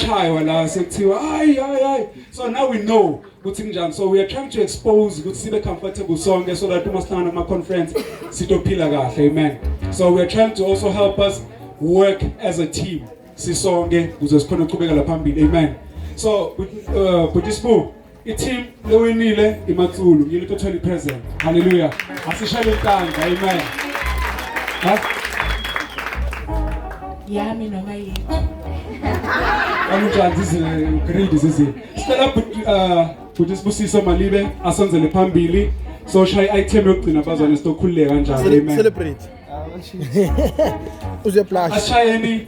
shaywa la sekuthiwa hayi hayi hayi so now we know ukuthi kunjani so we are trying to expose ukuthi sibe comfortable sonke so that uma sihlangana kuma conference sitophila kahle amen so we are trying to also help us work as a team sisonke kuze sikhona ukuqhubeka la phambili amen so uh, but this book I-team lewinile iMatsulu yini to 20 present. Hallelujah. Asishayele intandla. Amen. Ha? Yami noma yini. Kanjani zizi grade zizi. Sicela bhuti uh bhuti sibusiso malibe asonzele phambili. So shaya i-item yokugcina bazwane sitokhululeka kanjalo. Amen. Celebrate. Uze blush. Ashayeni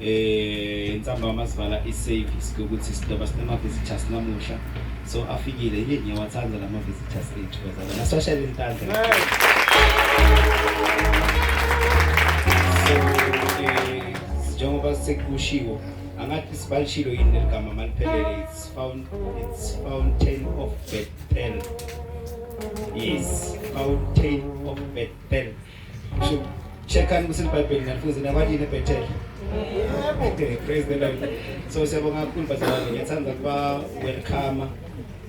eh ntsambama sivala i-service ukuthi sidoba sinama-visitors namuhla so afikile yini ngiyawathanda la ma-visitors ethu bazala naswashela intandla eh, njengoba sekushiwo angathi sibalishilo yini leli gama maliphelele it's found it's fountain of bethel yes fountain of bethel Checkani ukuthi iBhayibheli nalifunza nakwalini eBethel. Okay, praise the Lord. So siyabonga kakhulu bazalwane, ngiyathanda ukuba welcome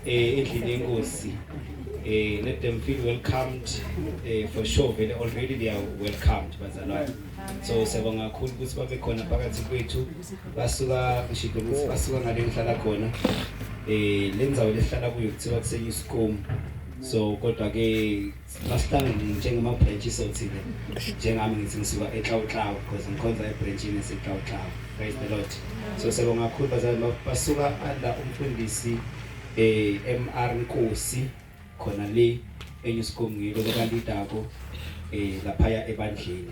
eh endlini yenkosi. Eh let them feel welcomed eh for sure vele already they are welcomed bazalwane. So siyabonga kakhulu ukuthi babe khona phakathi kwethu. Basuka ngishilo ukuthi basuka ngale ngihlala khona. Eh lenzawo lehlala kuyo kuthiwa kusenyuskomu. So kodwa ke Masitane njengemabhrentshi sothile njengami ngithi ngisuka eXawuxawu because ngikhonza ebhrentshini eseXawuxawu praise the lord so siyabonga kakhulu bazali basuka under umfundisi eh MR Nkosi khona le enyusikomngilo lekanti idako eh lapha ebandleni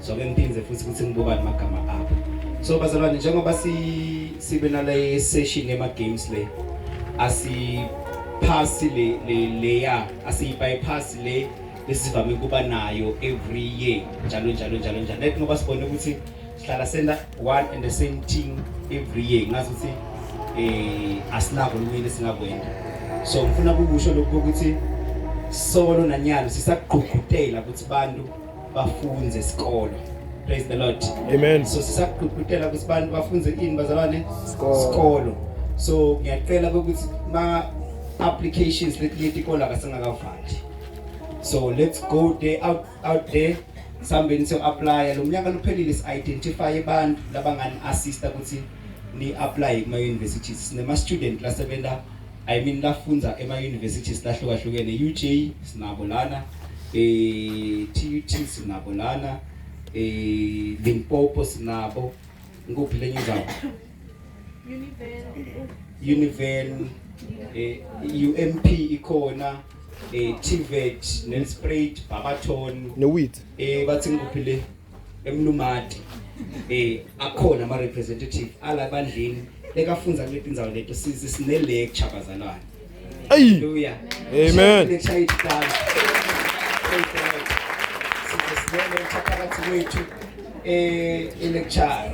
so ke ngiphinde futhi ukuthi ngibukane amagama abo so bazalwane njengoba si sibe nale session ema games le asi pass le le leya asi bypass le esivame kuba nayo every year njalo njalo njalo njalo let ngoba sibone ukuthi sihlala senda one and the same thing every year ngazi ukuthi eh asinako lwini singakwenza so ngifuna ukukusho lokho ukuthi solo nanyalo sisagqugqutela ukuthi bantu bafunze isikolo praise the lord amen so sisaqhuqhutela ukuthi abantu bafunze ini bazalwane isikolo so ngiyacela ukuthi ma applications letileti kola kasingakavali so let's go there out, out there sambeni siyo apply lo mnyaka luphelile si identify abantu labangani assista ukuthi ni apply kuma universities sinema student lasebenza I mean lafundza ema universities lahlukahlukene UJ sinabo lana eh TUT sinabo lana eh Limpopo sinabo ngikuphi lenye indawo Univen eh UMP ikhona eh TVET Nelspruit Barberton ne wheat eh bathi ngikuphi le emlumadi eh akhona ama representative ala bandleni lekafunza kule tindzawo leto sizi sine lecture bazalwane ayi haleluya amen lecture iqala sizisibele phakathi kwethu eh lecture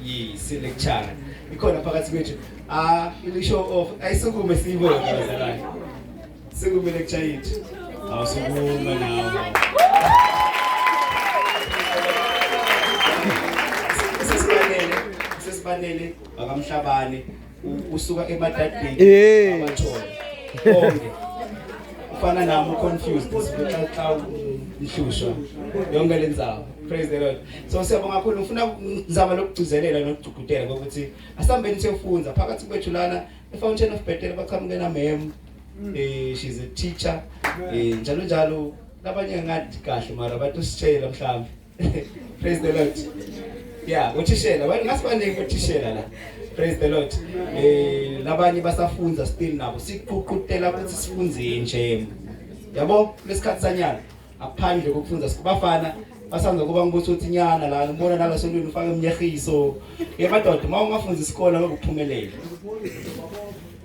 yi si lecture ikhona phakathi kwethu ah ilisho of ayisukume siyibone bazalwane Singumile kuchayiti. Awusukuma nawo. Sesibanele, sesibanele bakamhlabane usuka emadadini eh. abathole. Konke. Ufana nami confused sibetha xa ihlushwa yonke lenzawo. Praise the Lord. So siyabonga kakhulu ngifuna ngizama lokugcizelela nokugcugudela ukuthi asambeni siyofunza phakathi kwethu lana eFountain of Bethel baqhamuke na mem Eh she's a teacher. Eh njalo njalo labanye ngathi kahle mara batositshela mhlawumbe. Praise the Lord. Yeah, uthishela, wena ngasibaningi uthishela la. Praise the Lord. Eh labanye basafunza still nabo siququtela ukuthi sifunze nje. Yabo lesikhathi sanyana aphandle kokufunza sikubafana basanza kuba ngibutha ukuthi nyana la ngibona nala sontweni ufake umnyehiso. Yemadoda uma ungafunza isikole ngokuphumelela.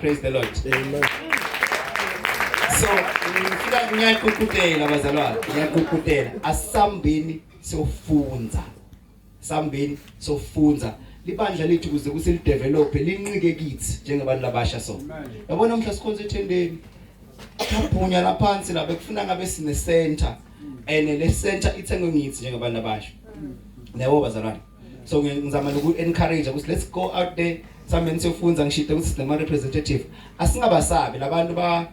Praise the Lord. Amen. So, ngifika ngiyaququtela bazalwane, ngiyaququtela. Asambeni sofunza. Sambeni sofunza. Libandla lethu kuze kuse li develop linqike kithi njengabantu labasha so. Yabona mhla sikhonza ethendeni. Kaphunya la phansi la bekufuna ngabe sine center. And le center ithengwe ngithi njengabantu abasha. Nabo bazalwane. so ngizama noku encourage ukuthi let's go out there sambe nisefunza ngishide ukuthi sinema representative asingabasabi labantu ba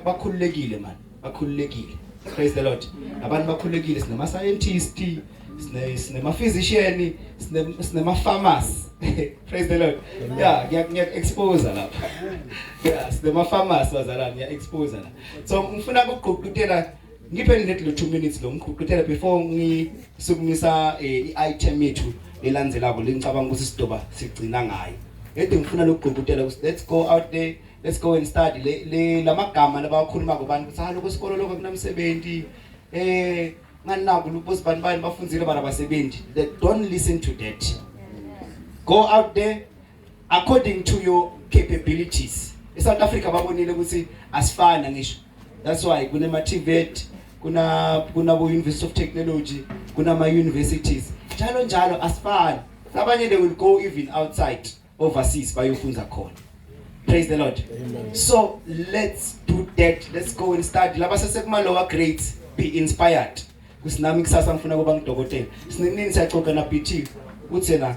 bakhululekile man bakhululekile praise the lord abantu bakhululekile sinema scientist sinema physician sinema pharmacy praise the lord yeah ngiya expose lapha yeah sinema pharmacy bazalana ngiya expose la so ngifuna ukugqugqutela Ngiphe ngithi lo 2 minutes lo ngiqhuqithele before ngisukumisa eh, i-item yethu elandzelako lengicabanga ukuthi sidoba sigcina ngayo. Ede ngifuna lokugqugqutela ukuthi let's go out there let's go and study le, le lamagama labawakhuluma kubantu ukuthi haloko ah, isikolo lokho kunamsebenzi eh nganinaku lubosi bani bani bafundzile bana basebenzi don't listen to that go out there according to your capabilities eSouth Africa babonile ukuthi asifana ngisho that's why kunema TVET kuna kuna bo University of Technology kunama universities njalo njalo asifani abanye they will go even outside overseas bayofunza khona praise the lord Amen. so let's do that let's go and study laba sesekuma lower grades be inspired kusinami kusasa ngifuna kuba ngidokotela sinini siyaxoxa na BT uthi la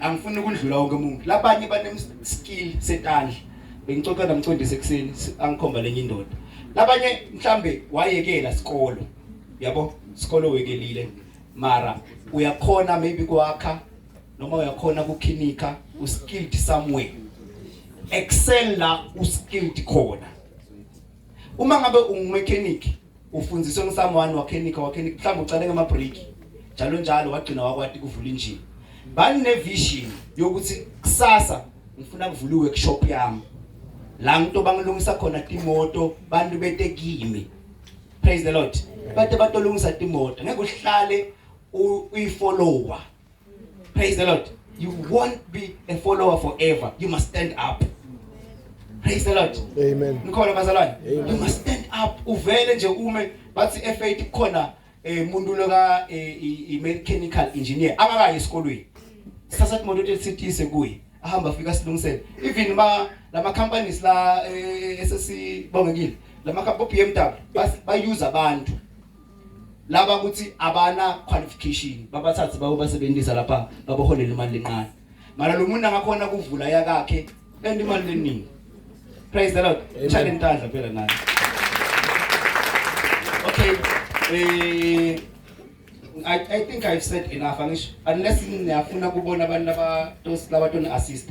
angifuni ukudlula wonke umuntu labanye banemskill setandla bengixoxa namcondisi ekuseni angikhomba lenye indoda labanye mhlambe wayekela sikolo yabo sikolo wekelile mara uyakhona maybe kwakha noma uyakhona kukhinika uskilled somewhere excel la uskilled khona Uma ngabe ungumechanic ufundiswe ngisam one wakhenik wakhenik mhlawumbe ucale ngama break njalo njalo wagcina wakwati kuvula injini. Bani ne vision yokuthi kusasa ngifuna kuvula workshop yami. La ngito bangilungisa khona timoto bantu bete kimi. Praise the Lord. Bate batolungisa timoto ngeke uhlale uyifollower Praise the Lord. You won't be a follower forever. You must stand up. Praise the Lord. Amen. Nikhona bazalwane. You must stand up. Uvele nje ume bathi efaith khona eh muntu lo ka eh, i mechanical engineer akakayi esikolweni. Sasa imoto ethithise kuye. Ahamba afika silungisele. Even ma lama companies la eh, esesibongekile. Lama ka BMW bas ba use abantu. laba ukuthi abana qualification babathathe bawo basebenzisa lapha baboholela imali lencane mara lo muntu angakhona kuvula yakakhe and imali leningi praise the lord chale intandla phela naye okay eh I, I think I've said enough angisho unless niyafuna kubona abantu laba laba tona assist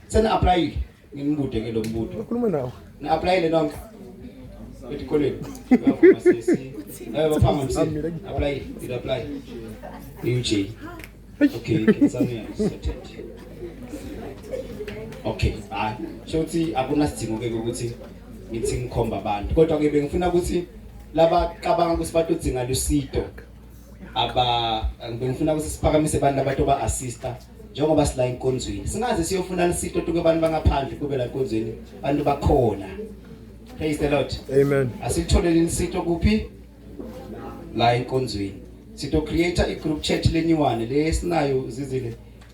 Seni apply ngimbude ke lo mbudo. Ukhuluma nawo. Ni apply le nonke. Etikolweni. Uyavuma sisi. Eh bafama msi. Apply, you apply. UJ. Okay, ngizamela isathethe. Okay, hayi. Shothi akunasidingo ke ukuthi ngithi ngikhomba abantu. Kodwa ke bengifuna ukuthi laba cabanga ukuthi batodzinga lusido aba ngifuna ukuthi siphakamise abantu abato ba assista njengoba sila enkonzweni singaze siyofuna lisito tuke abantu bangaphandle kube la enkonzweni abantu bakhona praise the lord amen asitholele lisito kuphi la enkonzweni sito create i group chat lenyuwane le sinayo zizile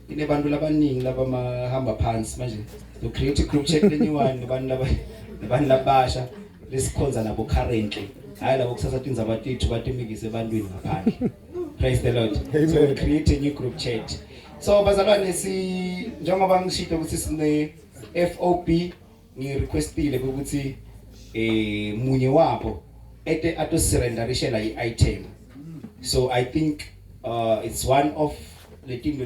inebantu labaningi labamahamba phansi manje to create i group chat lenyuwane nabantu laba nabantu labasha lesikhonza nabo currently hayi labo kusasa tindzaba tethu batimikise ebantwini ngaphandle Praise the Lord. Amen. So we create a new group chat. So bazalwane si njengoba ngishito ukuthi sine FOB ngi requestile ukuthi eh munye wabo ete ato surrenderishela i item. So I think uh it's one of letinto